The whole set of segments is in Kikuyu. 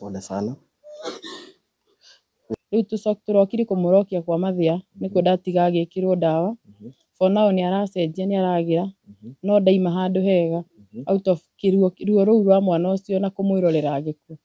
Pole sana. Rĩu tũcoke tũrokire kũmũrokia kwa mathĩa nĩkuo ndatiga agĩkĩrwo ndawa. For now nĩ aracenjia nĩ aragĩra no ndaima handũ hega out of kĩruo ruo rũu rwa mwana ũcio na kũmwĩrorera agĩkua.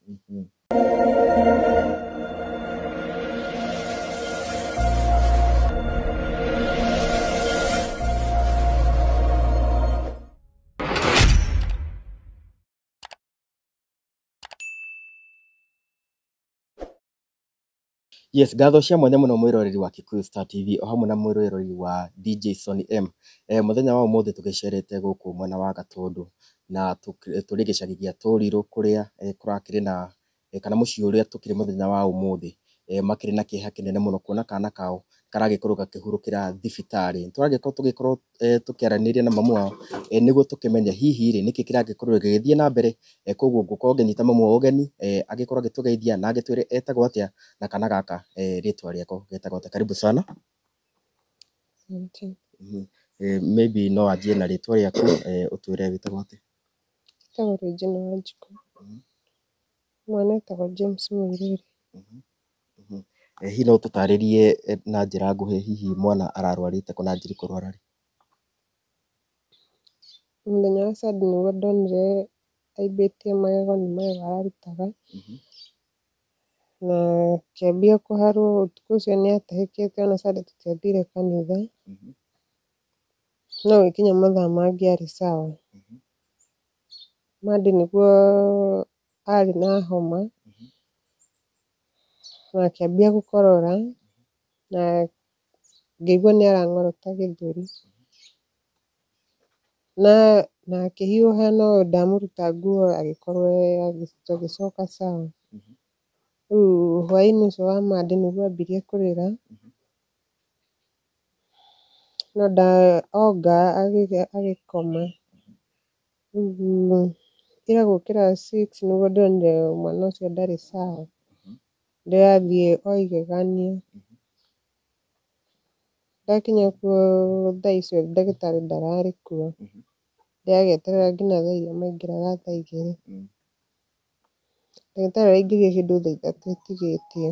Yes, ngatho cia mwanya mũno mwĩroreri wa Kikuyu Star TV o hamwe na mwĩroreri wa DJ Sonny M. Eh, mũthenya wa ũmũthĩ tũgĩcerete gũkũ mwena wa Gatũndũ na tũk- tũrĩ gĩcagi gĩa Tũrirũ kũrĩa eh, kũrakĩrĩ na kana mũciĩ ũrĩa tũkĩrĩ mũthenya wa ũmũthĩ, makĩrĩ na kĩeha kĩnene mũno kuona kana kao karagĩkorwo gakĩhurũkĩra thibitarĩ. Nĩ tũragĩkorwo tũgĩkorwo tũkĩaranĩria na mamu wao nĩguo tũkĩmenye hihi rĩ, nĩkĩ kĩragĩkorwo gĩgĩthiĩ na mbere. Kũguo ngũkorwo ngĩnyita mamu wao ũgeni, agĩkorwo agĩtũgeithia na agĩtwĩre etagwo atĩa, na kana gaka rĩtwa rĩako getagwo atĩa. Karibu sana. Maybe no wanjie na rĩtwa rĩaku, ũtwĩre wĩtagwo atĩa. Njĩtagwo Regina Wanjikũ. Mwene etagwo James Mũirũri. Hihi no ũtũtarĩrie na njĩra nguhĩ hihi mwana ararwarĩte kũ na anjirie kũrwara rĩ? Mũthenya wa Sunday nĩguo ndonire aimbĩtie magego nĩ magego ararutaga, na akĩambia kũharwo. Ũtukũ ũcio nĩ atahĩkĩte ona Sunday tũtiathire kanitha, no gũgĩkinya mathaa mangĩ arĩ sawa. Mandi nĩguo arĩ na homa, na akĩambia gũkorora, na ngĩigua nĩ arang'orota gĩthũri. Na na akĩhiũha no ndamũruta nguo agĩkorwo agĩcoka sawa. Rĩu hwainĩ ũcio wa Mandi nĩguo ambirie kũrĩra. Na nda onga agĩkoma, ira gũkĩra six nĩguo ndonire mwana ũcio ndarĩ sawa, ndĩrathiĩ o igegania, ndakinya kuo thaa icio ndagĩtarĩ ndararĩ kuo, ndĩragĩeterera nginya thaa iria maingĩraga thaa igĩrĩ. Ndagĩtarĩ araingĩrire kĩndũ thaa ithatũ ĩtigĩtie.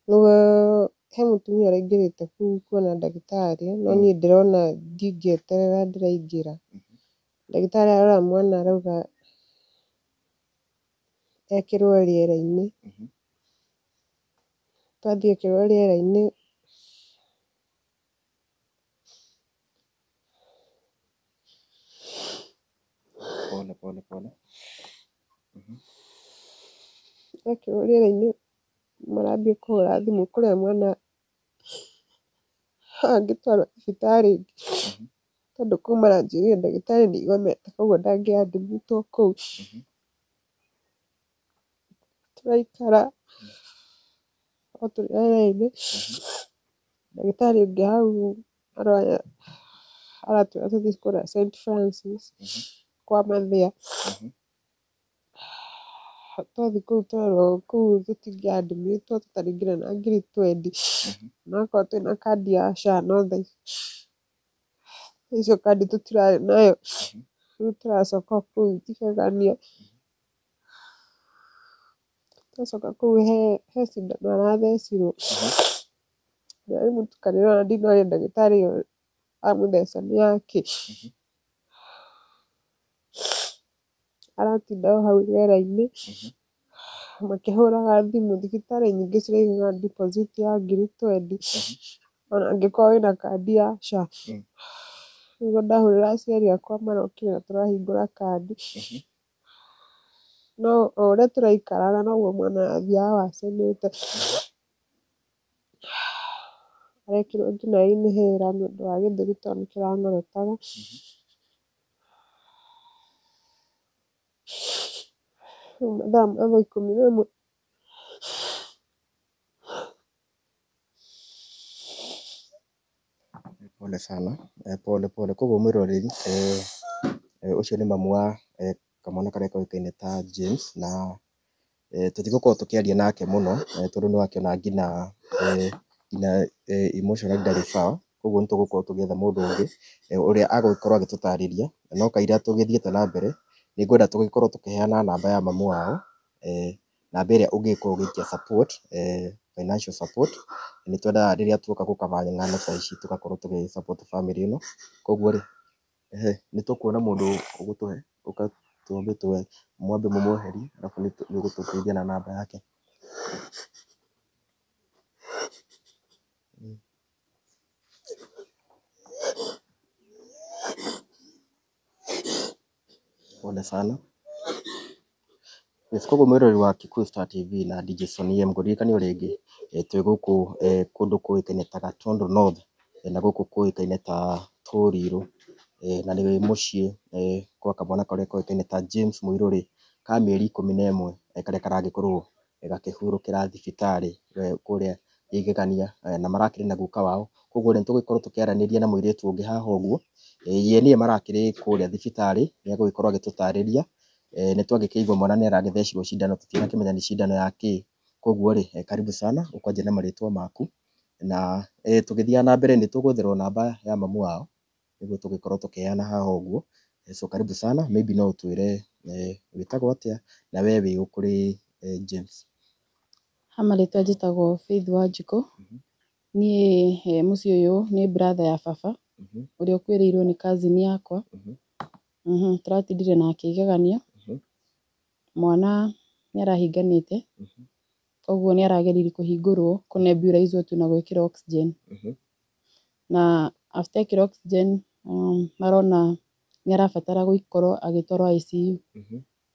Nĩguo he mũtumia ũraingĩrĩte kũu kuona ndagĩtarĩ, no niĩ ndĩrona ndingĩeterera ndĩraingĩra. Ndagĩtarĩ arora mwana arauga ekĩrwo rĩera-inĩ. Twathiĩ ekĩrwo rĩera-inĩ. pole pole pole Mhm. Ekĩrwo rĩera-inĩ marambia kũhũra thimũ kũrĩa mwana angĩtwarwo thibitarĩ ĩngĩ tondũ kũu maranjĩrĩire ndagĩtarĩ nĩ igomete koguo ndangĩadimĩtwo kũu. Tũraikara o tũrĩ o erĩ, ndagĩtarĩ ũngĩ hau aratwĩra tũthiĩ kũrĩa St Francis kwa mathĩra, twathiĩ kũu twerwo kũu tũtingĩ admit wo tũtarĩ nginya na ngiri twendi, na akorwo twĩna kandi ya SHA no thengia, icio kandi tũtirarĩ nayo, rĩu tũracoka o kũu tũkĩgegania. Ndacoka kũu he cindano arathecirwo, na rĩu mũtukanĩre ũrĩa ndinoria ndagĩtarĩ ũyũ amũtheca nĩ wa kĩ. Aratinda o hau rĩera-inĩ makĩhũraga thimũ, thibitarĩ nyingĩ ciraigaga deposit ya ngiri twendi ona angĩkorwo wĩna kandi ya SHA. Nĩguo ndahũrĩra aciari akwa marokire na tũrahingũra kandi. No o ũrĩa tũraikaraga noguo mwana athiaga wacenete, arekĩrwo nginya inhaler nĩ ũndũ wa gĩthũri tondũ nĩ kĩranyorotaga. Rĩu mathaa ma thaa ikũmi na ĩmwe Pole sana, pole pole, koguo mwĩroreri, ũcio nĩ mamu wa kamwana karĩa koĩkaine ta James, na tũtigũkorwo tũkĩaria nake mũno, tondũ nĩ ũrakĩona ngina ngina emotionally ndarĩ sawa, koguo nĩ tũgũkorwo tũgĩetha mũndũ ũngĩ, ũrĩa agũgĩkorwo agĩtũtarĩria, no kaira tũgĩthiĩte na mbere, nĩ ngwenda tũgĩkorwo tũkĩheana namba ya mamu wao. Namba ĩrĩa ũngĩka ũgĩtia support, financial support, nĩ twendaga rĩrĩa tuoka gũ cover ng'ano ta ici tũgakorwo tũgĩ support bamĩrĩ ĩno. Kũguo rĩ, nĩ tũkuona mũndũ ũgũtũhe, mwambe mũmweherie arabu nĩ ũgũtũteithia na namba yake. Pole sana. Nĩsiko mũeroreri wa Kikuyu Star TV na Dj Soni M ngũririkanie o rĩngĩ twĩ gũkũ kũndũ kũĩkaine ta Gatundu North na gũkũ kũĩkaine ta Toriro na nĩ mũciĩ gwa kamwana karĩa koĩkaine ta James Mũirũrĩ ka mĩeri ikũmi na ĩmwe karĩa karagĩkorwo. ĩgakĩhurũkĩra thibitarĩ kũrĩa Igegania, na marakĩrĩ na guka wao, koguo nĩ tũgũgĩkorwo tũkĩaranĩria na mũirĩtu ũngĩ haha ũguo, ye nĩye marakĩrĩ kũrĩa thibitarĩ, nĩ egũgĩkorwo agĩtũtarĩria, nĩ twagĩkĩigwa mwana nĩ arathecirwo cindano tũtinakĩmenya nĩ cindano ya kĩ, koguo rĩ karibu sana ũkanjĩra marĩtwa maku, na tũgĩthiaga na mbere nĩ tũgwetherwo namba ya mamu wao. nĩguo tũgĩkorwo tũkĩheana haha ũguo. So karibu sana, maybe no ũtwĩre wĩtagwo atĩa na we wĩũ kũrĩ James? Ha marĩtwa njĩtagwo Faith Wanjikũ, niĩ he mũciĩ ũyũ nĩ brother ya baba, ũrĩa ũkuĩrĩirwo nĩ cousin yakwa, tũratindire nake igegania, mwana nĩ arahinganĩte, koguo nĩ arageririe kũhingũrwo, kũ nebulizwo tu na gwĩkĩrwo oxygen. na after ekĩra oxygen marona nĩ arabatara gũkorwo agĩtwarwo ICU,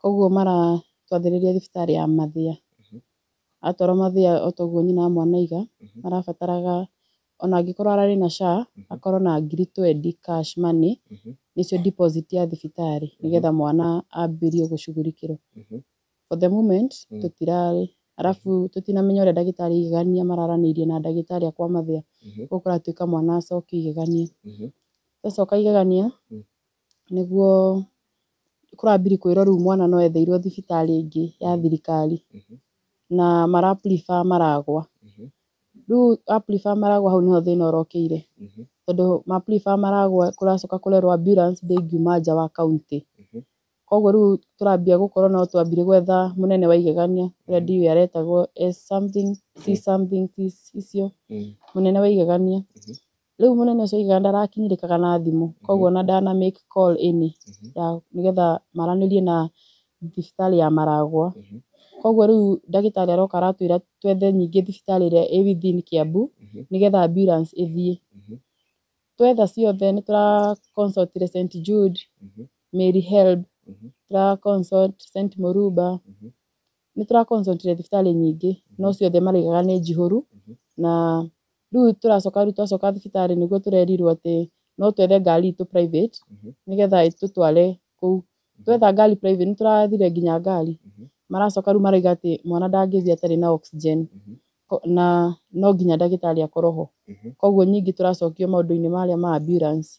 koguo maratwathĩrĩria thibitarĩ ya Mathia. Atwarwo Mathia o ta ũguo nyina wa mwana aiga, marabataraga o na angĩkorwo ararĩ na SHA, akorwo na ngiri twendi cash money, nĩcio deposit ya thibitarĩ, nĩgetha mwana ambĩrĩrie gũcugurikĩrwo. for the moment tũtirarĩ, arabu tũtinamenya ũrĩa ndagĩtarĩ aigania mararanĩirie na ndagĩtarĩ akwa mathĩna, ũguo kũratuĩka mwana acoke igegania, acoka igegania nĩguo kũrambiri kwĩrwo rĩu mwana no etheirwo thibitarĩ ĩngĩ ya thirikari, na mara prefer maragwa, rĩu a prefer maragwa hau nĩho thĩna ũrokĩire, tondũ ma prefer maragwa kũracoka kũrerwo ambulance ndĩngiuma nja wa county, Koguo rĩu tũrambia gũkorwo no twambire gwetha mũnene wa igegania ũrĩa ndiũĩ aretagwo S something, C something, T icio, mũnene wa igegania. Rĩu mũnene ũcio wa igegania ndarakinyĩrĩkaga na thimũ, koguo ona ndana make call ĩnĩ ya nĩgetha maranĩrie na thibitarĩ ya Maragwa. Koguo rĩu ndagĩtarĩ aroka aratwĩra twethe nyingĩ thibitarĩ ĩrĩa ĩ within Kiambu, nĩgetha ambulance ĩthiĩ. twetha ciothe nĩ tũra consult le St Jude Mhm. Mary Help Mhm. tũra consult St Muruba Mhm. nĩ tũra consult le thibitarĩ nyingĩ no ciothe maraigaga nĩ njihũru Mhm. na rĩu tũracoka rĩu twacoka thibitarĩ nĩguo tũrerirwo atĩ no twethe ngari itũ private Mhm. nĩgetha ĩtũtware kũu twetha ngari private nĩ tũrathire nginya ngari maracoka rĩu marauga atĩ mwana ndangĩthiĩ atarĩ na oxygen Ko- na no nginya ndagĩtarĩ akorwo ho koguo nyingĩ tũracokio maũndũ-inĩ marĩa ma ambulance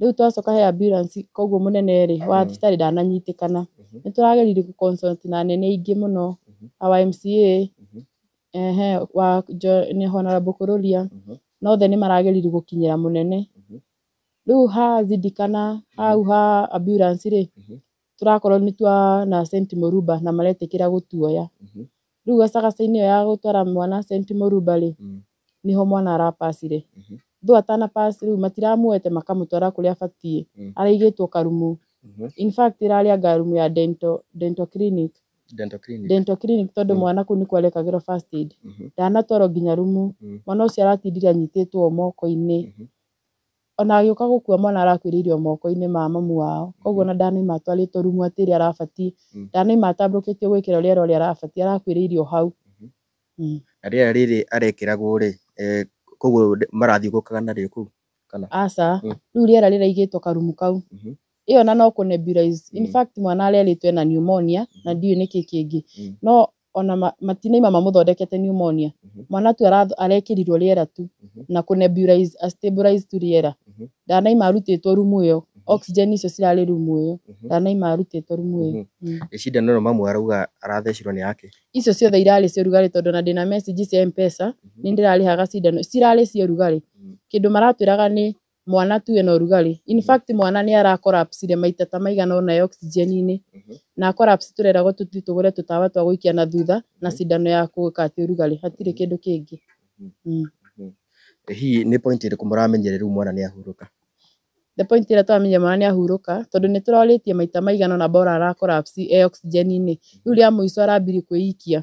rĩu twacoka he ambulance koguo mũnene rĩ wa thibitarĩ ndananyitĩkana nĩ tũrageririe gũ consult na anene aingĩ mũno our MCA ehe wa Jo- nĩ Honarable Kũrũria na othe nĩ marageririe gũkinyĩra mũnene Rĩu ha Zidi kana hau ha ambulance rĩ, tũrakorwo nĩ twa na St. Muruba na maretĩkĩra gũtuoya. Rĩu gacagaca-inĩ ĩyo ya gũtwara mwana St. Muruba rĩ, nĩho mwana ara pass ire. Though atana pass rĩu matiramuoete makamũtwara kũrĩa abatiĩ, araigĩtwo karumu. In fact ĩrarĩ anga rumu ya dental, dental clinic. Dental clinic. Dental clinic tondũ mwana kũu nĩkuo arekagĩrwo first aid. Ndanatwarwo nginya rumu. Mwana ũcio aratindire anyitĩtwo moko-inĩ. ona agĩũka gũkua mwana arakuĩrĩire o moko-inĩ ma mamu wao, koguo ona ndanaima atwarĩtwo rumu atĩ ĩrĩa arabatiĩ, ndanaima atambũrũkĩtio gwĩkĩrwo rĩera ũrĩa arabatiĩ, arakuĩrĩire o hau. Na rĩera rĩrĩ arekĩragwo-rĩ, koguo marathiũngũkaga narĩo kũu kana? Aca, rĩu rĩera rĩraigĩtwo karumu kau, ĩyo ona no kũ nebulize, in fact mwana arerĩtwo ena pneumonia na ndiũĩ nĩkĩ kĩngĩ, no ona ma, matinaima mamũthondekete pneumonia Mhm. mwana tu ara- arekĩrirwo rĩera tu Mhm. na kũ nebulize a stabilize tu rĩera Mhm. ndanaima arutĩtwo rumu ĩyo oxygen icio cirarĩ rumu ĩyo Mhm. ndanaima arutĩtwo rumu ĩyo Mhm. Mm. Ĩ cindano ĩno mamu arauga arathecirwo nĩ yake icio ciothe irarĩ cia ũrugarĩ tondũ na ndĩna message cia mpesa Mhm. nĩ ndĩrarĩhaga cindano cirarĩ cia ũrugarĩ Mhm. kĩndũ maratwĩraga nĩ mwana tu ena ũrugarĩ in fact mwana nĩ ara collapse re maita ta maigana ũna e oxygen inĩ na collapse tũreragwo tũthiĩ tũgũre tũtawa twa gũikia na thutha na cindano ya gũkatia ũrugarĩ hatirĩ kĩndũ kĩngĩ mm. Ĩ hihi nĩ point ĩrĩkũ mũramenyire rĩu mwana nĩ ahurũka? The point ĩrĩa twamenyire mwana nĩ ahurũka tondũ nĩ tũrorĩtie maita maigana ũna bora ara collapse e oxygen inĩ rĩu rĩa mũico arambire kwĩikia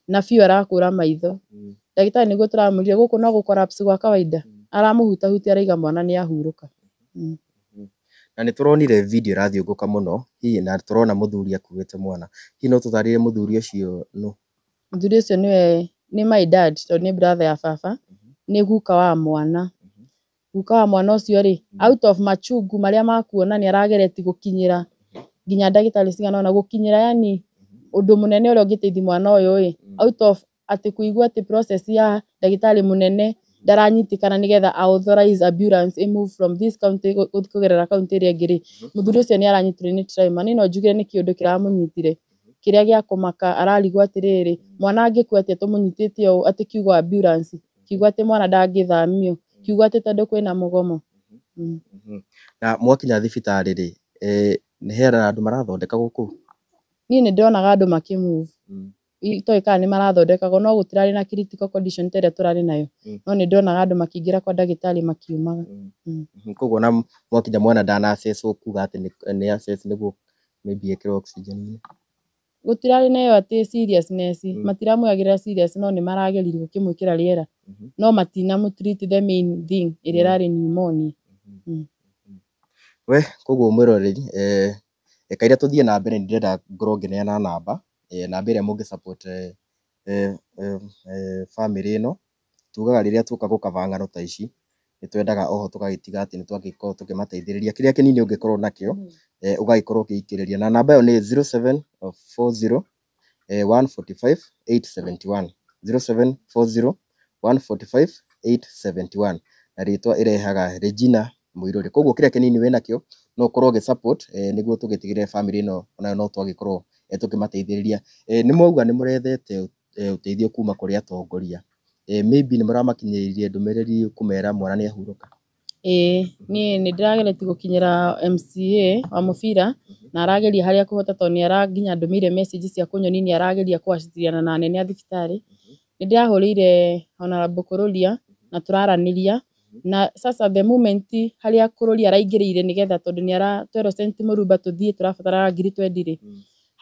na biũ arakũra maitho Mm. ndagĩtarĩ nĩguo tũramũria gũkũ no gũ collapse gwa kawaida Mm. aramũhutahutia araiga mwana nĩ ahurũka na nĩ tũronire video ĩrathiũngũka mũno hihi na tũrona mũthuri akuĩte mwana hihi no tũtarĩrie mũthuri ũcio nũ mũthuri ũcio nĩwe nĩ my dad tondũ nĩ brother ya baba nĩ guka wa mwana guka wa mwana ũcio-rĩ, out of machungu marĩa ma kuona nĩ aragereti gũkinyĩra nginya ndagĩtarĩ cigana ũna, gũkinyĩra yaani ũndũ mũnene ũrĩa ũngĩteithia mwana ũyũ-ĩ, out of atĩ kũigua atĩ process ya ndagĩtarĩ mũnene ndaranyitĩkana nĩgetha a authorize ambulance ĩ move from this county gũthiĩ kũgerera county ĩrĩa ĩngĩ-rĩ, mũthuri ũcio nĩ aranyitirwo nĩ trauma. Niĩ no njuge nĩ kĩũndũ kĩramũnyitire kĩrĩa gĩa kũmaka, ararigwo atĩrĩrĩ, mwana angĩkua atĩa tũmũnyitĩte ũũ atĩ kiugo ambulance kiugo atĩ mwana ndangĩthamio, kiugo atĩ tondũ kwĩna mũgomo. Na mwakinya thibitarĩ rĩ, he andũ marathondekagwo kũu? Niĩ nĩ ndĩronaga andũ makĩ move. Itoĩ kana nĩ marathondekagwo no gũtirarĩ na critical condition ta ĩrĩa tũrarĩ nayo. No nĩ ndĩronaga andũ makĩingĩra kwa ndagĩtarĩ makiumaga. Koguo ona mwakinya mwana ndana assesswo kuga atĩ nĩ assessed nĩguo maybe ekĩrwo oxygen? Gũtirarĩ na ĩyo atĩ seriousness, matiramwĩagĩrĩra serious no nĩ marageririe gũkĩmwĩkĩra rĩera, no matinamũ treat the main thing ĩrĩa ĩrarĩ pneumonia. We koguo mwĩroreri, kaĩrĩa tũthiĩ na mbere nĩ ndĩrenda ngorwo ngĩneana namba, namba ĩrĩa mũngĩ support bamĩrĩ ĩno. Tugaga rĩrĩa tuoka gũkaba ng'ano ta ici, nĩ twendaga oho tũgagĩtiga atĩ nĩ twagĩkorwo tũkĩmateithĩrĩria. Kĩrĩa kĩnini ũngĩkorwo nakĩo, ũgagĩkorwo ũgĩikĩrĩria. Na namba ĩyo nĩ zero seven four zero one forty five eight seventy one, zero seven four zero one forty five eight seventy one. Na rĩtwa ĩrehaga Regina Mũirũrĩ. Kũguo kĩrĩa kĩnini wĩ nakĩo, no ũkorwo ũgĩ support nĩguo tũgĩtigĩrĩre bamĩrĩ ĩno onayo no twagĩkorwo tũkĩmateithĩrĩria. Nĩ mwauga nĩ mũrethete ũteithio kuma kũrĩ atongoria, maybe nĩ mũramakinyĩrĩirie ndũmĩrĩri kũmera mwana nĩ ahurũka? Ĩĩ niĩ nĩ ndĩrageretie gũkinyĩra MCA wa mũbira na arageria harĩa akũhota tondũ nĩ ara nginya andũmĩire message cia kũnyonia nĩ arageria kũ acindana na anene a thibitarĩ. Nĩ ndĩrahũrĩire Hon Bũrũria na tũraranĩria. Na sasa the moment harĩa kũrũria araingĩrĩire nĩgetha tondũ nĩ ara twerwo St Mũrumba tũthiĩ tũrabatara ngiri twendi rĩ,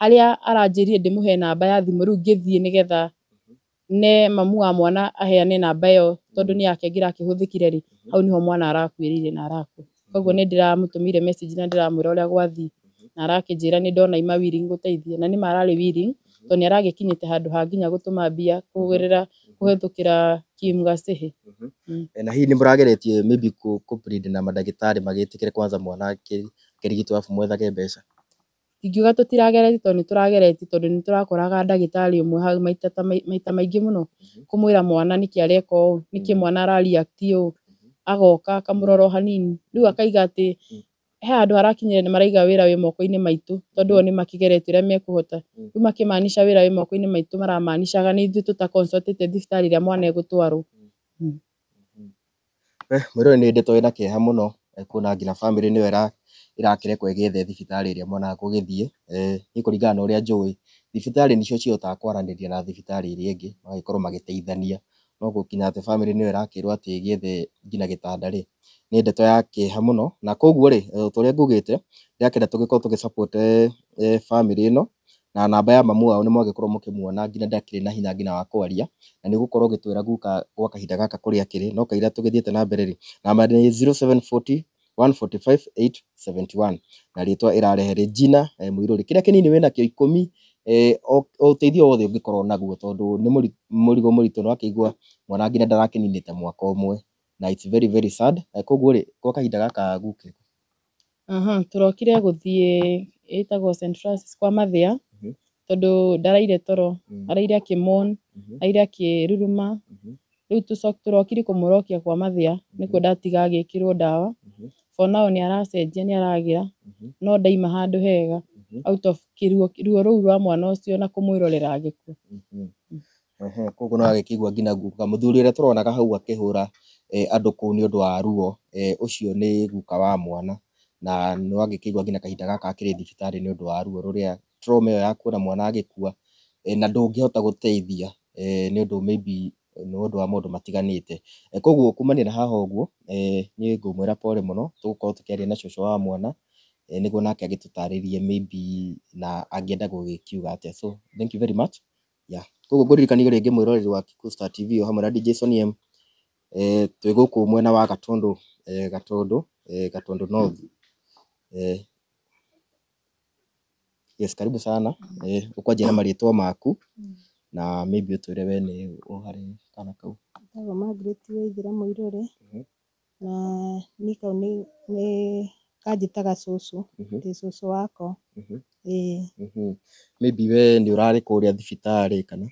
harĩa aranjĩrire ndĩmũhe namba ya thimũ rĩu ngĩthiĩ nĩgetha ne mamu wa mwana aheane namba ĩyo tondũ nĩ yake ngĩra kĩhũthĩkire rĩ, hau nĩho mwana arakuĩrĩire na arakua. Koguo nĩ ndĩramũtũmĩire message na ndĩramwĩra ũrĩa gwathiĩ. Na arakĩnjĩra nĩ ndona ima willing gũteithia. Na nĩma ararĩ willing, to nĩ aragĩkinyĩte handũ ha nginya gũtũma mbia kũgerera kũhĩtũkĩra Kim Gasihi. Na hihi nĩ mũrageretie maybe kũ kũ plead na mandagĩtarĩ magĩtĩkĩre kwanza mwana akĩrigitwo arabu mwethage mbeca? Ndingiuga tũtirageretie tondũ nĩ tũrageretie tondũ nĩ tũrakoraga ndagĩtarĩ ũmwe maita ta maita maingĩ mũno, kũmwĩra mwana nĩkĩ areka ũũ, nĩkĩ mwana ara react ũũ, agoka akamũrora o hanini, rĩu akaiga atĩ he handũ harakinyĩrĩra nĩ maraiga wĩra wĩ moko-inĩ maitũ, tondũ o nĩ makĩgeretie ũrĩa mekũhota, rĩu makĩ maanisha wĩra wĩ moko-inĩ maitũ mara maanishaga nĩ ithuĩ tũta consult ĩte thibitarĩ ĩrĩa mwana egũtwarwo. Mwĩrĩ ũyũ nĩ ndĩtũ wĩna kĩeha mũno, kuona nginya bamĩrĩ nĩyo ĩrakĩrekwo ĩgĩethe thibitarĩ ĩrĩa mwana akũgĩthiĩ. Niĩ kũringana na ũrĩa njũĩ, thibitarĩ nĩcio cihotaga kwaranĩria na thibitarĩ iria ingĩ, magagĩkorwo magĩteithania. No gũkinya atĩ bamĩrĩ nĩyo ĩrakĩrwo atĩ ĩgĩethe nginya gĩtanda rĩ, nĩ ndeto ya kĩeha mũno. Na kũguo rĩ, o ta ũrĩa ngugĩte, ndĩrakĩenda tũgĩkorwo tũgĩ support bamĩrĩ ĩno, na namba ya mamu wao nĩ mwagĩkorwo mũkĩmuona nginya ndakĩrĩ na hinya nginya wa kwaria, na nĩ ũgũkorwo ũgĩtwĩra guka gwa kahinda gaka kũrĩa akĩrĩ, no kaira tũgĩthiĩte na mbere rĩ, namba nĩ zero seven forty one forty five eight seventy one na rĩtwa ĩrarehe rĩ Gina Mũirũri. Kĩrĩa kĩnini wĩna kĩo ikũmi, o ũteithio wothe ũngĩkorwo naguo tondũ nĩ mũrigo mũritũ nĩ ũrakĩigua mwana nginya ndarakĩninĩte mwaka ũmwe na it's very very sad, koguo rĩ gwa kahinda gaka guka. Aha, tũrokire gũthiĩ ĩtagwo St. Francis kwa Mathia, Mhm. tondũ ndaraire toro, Mm. araire akĩmon, Mhm. araire akĩruruma, Mhm. rĩu tũco- tũrokire kũmũrokia kwa Mathia, nĩkuo ndatiga agĩkĩrwo ndawa, Mhm. for now nĩ aracenjia nĩ aragĩra, Mhm. no ndaima handũ hega, Mhm. out of kĩruo ruo rũu rwa mwana ũcio na kũmwĩrorera agĩkua. Mhm. Koguo nĩ ũrakĩigua nginya guka. Mũthuri ũrĩa tũrona hau akĩhũra andũ kũu nĩ ũndũ wa ruo, ũcio nĩ guka wa mwana, na nĩ ũragĩkĩigua nginya kahinda gaka akĩrĩ thibitarĩ nĩ ũndũ wa ruo rũrĩa, trauma ĩyo ya kuona mwana agĩkua, na ndũngĩhota gũteithia nĩ ũndũ may be nĩ ũndũ wa maũndũ matiganĩte. Koguo kumania na haha ũguo, niĩ ngũmwĩra pole mũno, tũgũkorwo tũkĩaria na cũcũ wa mwana, nĩguo nake agĩtũtarĩrie may be na angĩenda gũgĩkiuga atĩa. So thank you very much. Yeah. Koguo ngũririkanie rĩngĩ mwĩroreri wa Kikuyu Star TV o hamwe na DJ Sonny M. Eh, twĩ gũkũ mwena wa Gatũndũ, eh, Gatũndũ, eh, Gatũndũ North. Eh, yes, karibu sana. Eh, ũkwanjia na marĩtwa maku na maybe ũtwĩre we nĩ ũharĩ kana kau. Njĩtagwo Margaret Waithĩra Mũirũrĩ. Mhm. Na niĩ kau nĩ nĩ kanjĩtaga cũcũ, Mhm. ndĩ cũcũ wako. Mhm. Ĩĩ, Mhm. Maybe we nĩ ũrarĩ kũrĩa thibitarĩ kana?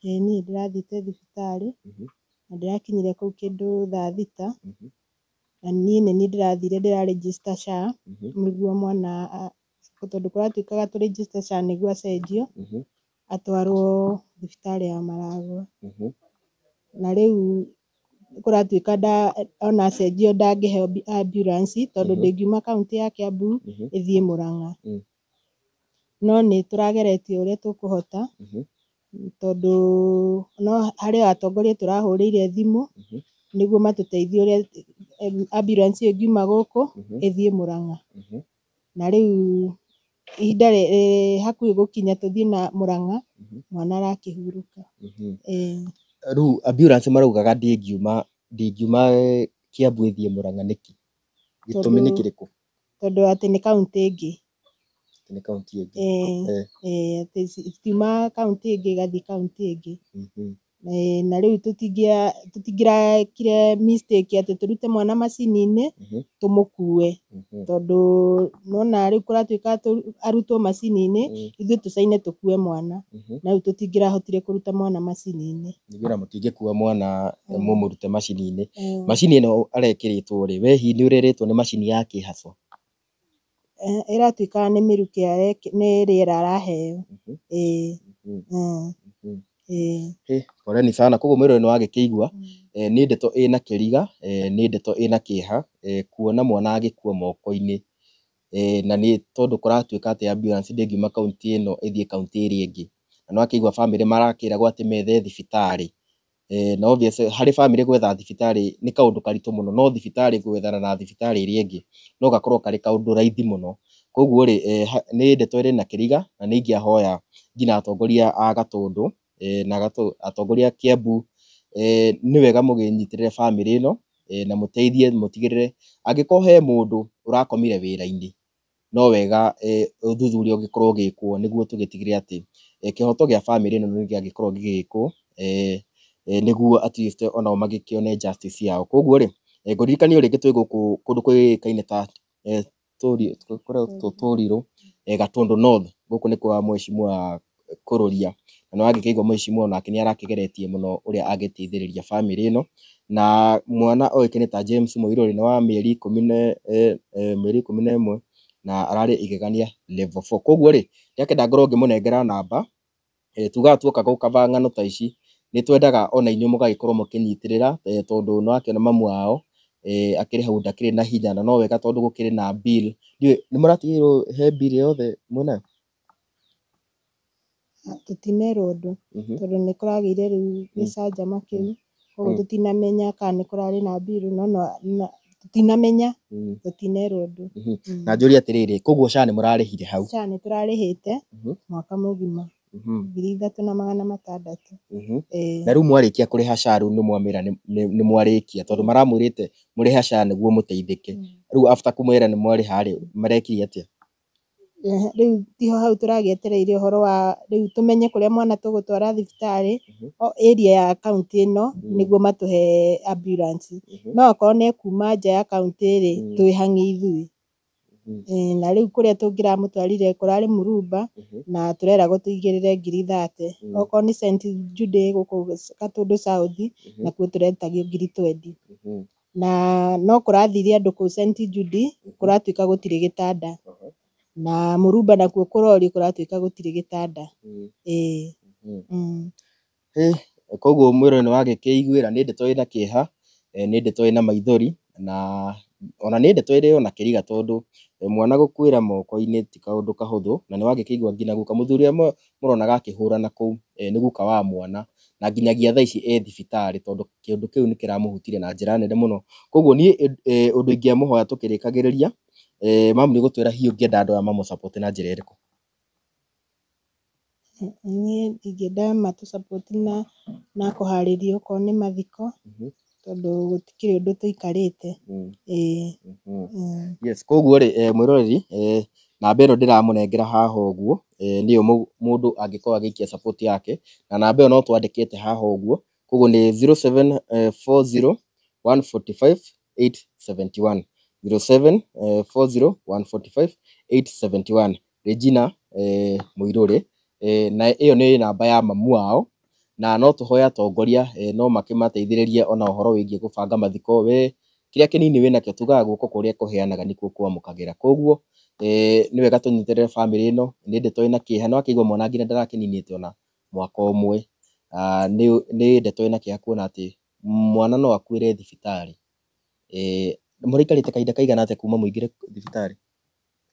ĩĩ niĩ ndĩrathiĩte thibitarĩ, Mhm. na ndĩrakinyire kũu kĩndũ thaa thita, Mhm. na niĩ nĩ niĩ ndĩrathire ndĩra register SHA, Mhm. nĩguo mwana a tondũ kũratuĩkaga tũ register SHA nĩguo acenjio, Mhm. atwarwo thibitarĩ ya Maragwa, na rĩu kũratuĩka ona acenjio ndangĩheo ambulance tondũ ndĩngiuma kauntĩ ya Kĩambu ĩthiĩ Mũrang'a. No nĩ tũrageretie ũrĩa tũkũhota tondũ no harĩ o atongoria tũrahũrĩire thimũ nĩguo matũteithie ũrĩa ambulance ĩyo ĩngiuma gũkũ ĩthiĩ Mũrang'a. na rĩu ihinda rĩ rĩ hakuhĩ gũkinya tũthiĩ na Mũrang'a, mwana arakĩhurũka. Ĩĩ. Rĩu ambulance maraugaga ndĩngiuma ndĩngiuma Kĩambu ĩthiĩ Mũrang'a nĩkĩ? Gĩtũmi nĩ Tondũ- kĩrĩkũ? Tondũ atĩ nĩ kaũntĩ ĩngĩ. Atĩ nĩ kaũntĩ ĩngĩ. Ĩĩ. Eh. Ĩĩ atĩ ci citiuma kaũntĩ ĩngĩ igathiĩ kaũntĩ ĩngĩ. Eh, na rĩu tũtingĩa- tũtingĩrakire mistake atĩ tũrute mwana macini-inĩ Mhm. tũmũkue Mhm. tondũ nona rĩu kũratuĩka atũ- arutwo macini-inĩ Mm. ithuĩ tũcaine tũkue mwana Mhm. na rĩu tũtingĩrahotire kũruta mwana macini-inĩ Nĩguo na mũtingĩkua mwana Mm. mũmũrute macini-inĩ Eh, macini ĩno arekĩrĩtwo rĩ we hihi nĩ ũrerĩtwo nĩ macini ya kĩhaco ĩratuĩka nĩ mĩrukĩ nĩ rĩera araheo ĩĩ ĩĩ. Poleni sana koguo mwĩrĩ ũyũ nĩ wagĩkĩigua nĩ ndeto ĩna kĩriga nĩ ndeto ĩna kĩeha kuona mwana agĩkua moko-inĩ na nĩ tondũ kũratuĩka atĩ ambulance ndĩngiuma kaũntĩ ĩno ĩthiĩ kaũntĩ ĩrĩa ĩngĩ na nĩ wakĩigua bamĩrĩ marakĩragwo atĩ methe thibitarĩ na obvious harĩ bamĩrĩ gwetha thibitarĩ nĩ kaũndũ karitũ mũno, no thibitarĩ gwethana na thibitarĩ ĩrĩa ĩngĩ no gakorwo karĩ kaũndũ raithi mũno. Koguo rĩ, nĩ ndeto ĩrĩ na kĩriga na nĩ ingĩahoya nginya atongoria a Gatũndũ na atongoria a Kĩambu, nĩ wega mũkĩnyitĩrĩre bamĩrĩ ĩno na mũteithie mũtigĩrĩre angĩkorwo he mũndũ ũrakomire wĩra-inĩ, no wega ũthuthuria ũngĩkorwo ũgĩkwo nĩguo tũgĩtigĩrĩre atĩ kĩhoto gĩa bamĩrĩ ĩno nĩ gĩagĩkorwo gĩgĩkwo, nĩguo at least o nao magĩkĩone justice yao. Kũguo rĩ, ngũririkania o rĩngĩ twĩ gũkũ kũndũ kũĩkaine ta Toriro, Gatũndũ North, gũkũ nĩ kwa mheshimiwa kũrũria, na nĩ wangĩkĩigua mũici mũno nake nĩ arakĩgeretie mũno ũrĩa angĩteithĩrĩria bamĩrĩ ĩno, na mwana oĩkaine ta James Mũirũ rĩ, nĩ wa mĩeri ikũmi na mĩeri ikũmi na ĩmwe na ararĩ igegania level four. Koguo rĩ, ndakĩenda ngorwo ngĩmũnengera namba, tugaga tuoka gũkaba ng'ano ta ici, nĩ twendaga ona inyuĩ mũgagĩkorwo mũkĩnyitĩrĩra tondũ nĩ ũrakĩona mamu wao akĩrĩ hau ndakĩrĩ na hinya na no wega tondũ gũkĩrĩ na bill, ndiũĩ nĩ mũratigĩrĩrwo he bill yothe mwĩnayo? Tũtinerwo ũndũ tondũ nĩ kũragĩire rĩu gĩcanjama kĩu, koguo tũtinamenya kana nĩ kũrarĩ na mbirũ no no na tũtinamenya, tũtinerwo ũndũ. Na njũrie atĩrĩrĩ, koguo SHA nĩ mũrarĩhire hau? SHA nĩ tũrarĩhĩte mwaka mũgima, ngiri ithatũ na magana matandatũ. Na rĩu mwarĩkia kũrĩha SHA rĩu nĩ mwamera nĩ mwarĩkia? Tondũ maramwĩrĩte mũrĩhe SHA nĩguo mũteithĩke, rĩu after kũmera nĩ mwarĩha rĩ, marekire atĩa? Rĩu tiho hau tũragĩetereire ũhoro wa rĩu tũmenye kũrĩa mwana tũgũtwara thibitarĩ, o area ya kauntĩ ĩno, nĩguo matũhe ambulance. No akorwo nĩ ekuuma nja ya kauntĩ rĩ, twĩ hang'i ithuĩ. Ĩĩ na rĩu kũrĩa tũngĩramũtwarire kũrarĩ Murumba, na tũreragwo tũigĩrĩre ngiri thate. Okorwo nĩ St Jude gũkũ Gatũndũ South, nakuo tũretagia ngiri twendi. Na no kũrathiire andũ kũu St. Jude, kũratuĩka gũtirĩ gĩtanda. Na Murumba nakuo kũrorio kũratuĩka gũtirĩ gĩtanda. Ĩĩ. Mm. Hĩ, koguo mwĩrũ nĩ wagĩkĩiguĩra, nĩ ndeto ĩna kĩeha, eh, nĩ ndeto ĩna maithori, na ona nĩ ndeto ĩrĩ ona kĩriga tondũ mwana gũkuĩra moko-inĩ ti kaũndũ kahũthũ, na nĩ wagĩkĩigua nginya guka. Mũthuri ũmwe mũronaga akĩhũrana kũu nĩ guka wa mwana, na nginyagia thaa ici e thibitarĩ tondũ kĩũndũ kĩu nĩ kĩramũhutirie na njĩra nene mũno. Koguo niĩ ũndũ ingĩamũhoya tũkĩrĩkagĩrĩria, mamu nĩ gũtwĩra hihi ũngĩenda andũ aya mamũ support na njĩra ĩrĩkũ? Niĩ ingĩenda matũ support na kũharĩria okorwo nĩ mathiko, tondũ gũtikĩrĩ ũndũ tũikarĩte. Yes, koguo rĩ mwĩroreri namba ĩno ndĩramũnengera haha ũguo nĩyo mũndũ angĩkorwo agĩikia support yake, na namba ĩyo no twandĩkĩte haha ũguo, koguo nĩ zero seven four zero one forty five eight seventy one, zero seven four zero one forty five eight seventy one. Regina Mũirũrĩ, na ĩyo nĩ namba ya mamu wao, na no tũhoe atongoria no makĩmateithĩrĩrie o na ũhoro wĩgiĩ gũbanga mathiko. We kĩrĩa kĩnini wĩ nakĩo tugaga guoko kũrĩa kũheanaga nĩkuo kwamũkagĩra. Kogwo nĩ wega tũnyitĩrĩre bamĩrĩ ĩno, nĩ ndeto ĩna kĩeha, nĩ wakĩigua mwana nginya ndarakĩninĩte o na mwaka ũmwe. Nĩ ndeto ĩna kĩeha kuona atĩ mwana no akuĩre thibitarĩ. Mũrĩikarĩte kahinda kaigana atĩa kuma mũingĩre thibitarĩ?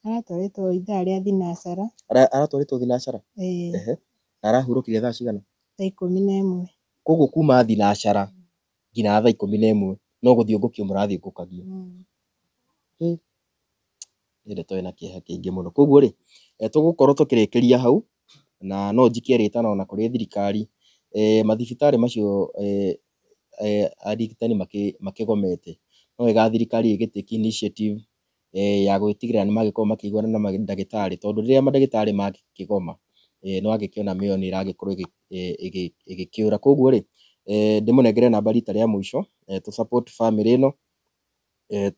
Aratwarĩtwo ithaa rĩa thinacara. Ara, aratwarĩtwo thinacara? Ĩĩ. Ehe. Na arahurũkire thaa cigana? Thaa ikũmi na ĩmwe. Kwoguo kuuma thinacara nginya thaa ikũmi na ĩmwe no gũthiũngũkio mũrathiũngũkagio. Mm. Hĩ! Nĩ ndeto ĩna kĩeha kĩingĩ mũno. Kwoguo rĩ, tũgũkorwo tũkĩrĩkĩria hau, na no njikie rĩtana ona kũrĩ thirikari, eeh mathibitarĩ macio eeh eeh arigitani makĩ, makĩgomete. No wega thirikari ĩgĩtake initiative ya gũgĩtigĩrĩra nĩ magĩkorwo makĩiguana na mandagĩtarĩ, tondũ rĩrĩa mandagĩtarĩ makĩgoma, nĩ wagĩkĩona mĩoyo nĩ ĩragĩkorwo ĩgĩkĩũra. Kũguo rĩ, ndĩmũnengere namba rita rĩa mũico, tũ support bamĩrĩ ĩno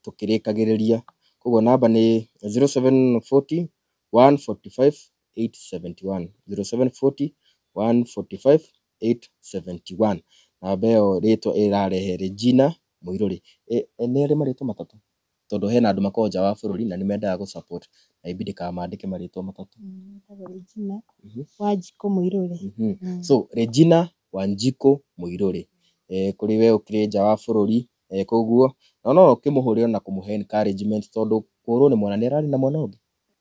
tũkĩrĩkagĩrĩria. Kũguo namba nĩ zero seven forty, one forty five, eight seventy one, zero seven forty, one forty five, eight seventy one. Namba ĩyo rĩtwa ĩrarehe Regina Mũirũrĩ. Nĩ arĩ marĩtwa matatũ? tondũ hena andũ makoragwo nja wa bũrũri na nĩ mendaga gũ support na ĩbidi kana mandĩke marĩtwa matatũ. Wĩtagwo Regina Wanjikũ Mũirũrĩ. So Regina Wanjikũ Mũirũrĩ, kũrĩ we ũkĩrĩ nja wa bũrũri kũguo, na no ũkĩmũhũrĩre na kũmũhe encouragement tondũ kũhũrwo nĩ mwana nĩ ararĩ na mwana ũngĩ?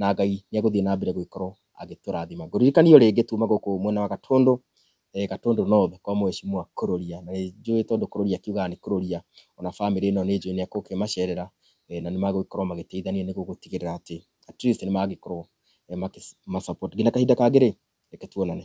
na Ngai nĩ egũthiĩ na mbere gũgĩkorwo agĩtũrathima. Ngũririkanie o rĩngĩ tuma gũkũ mwena wa Gatũndũ, Gatũndũ North kwa Mheshimiwa Kũrũria, na nĩ njũĩ tondũ Kũrũria akiugaga nĩ Kũrũria, ona bamĩrĩ ĩno nĩ njũĩ nĩ egũkĩmacerera na nĩ magũgĩkorwo magĩteithania nĩguo gũtigĩrĩra atĩ atleast nĩ magĩkorwo makĩ ma support. Nginya kahinda kangĩ rĩ, reke tuonane.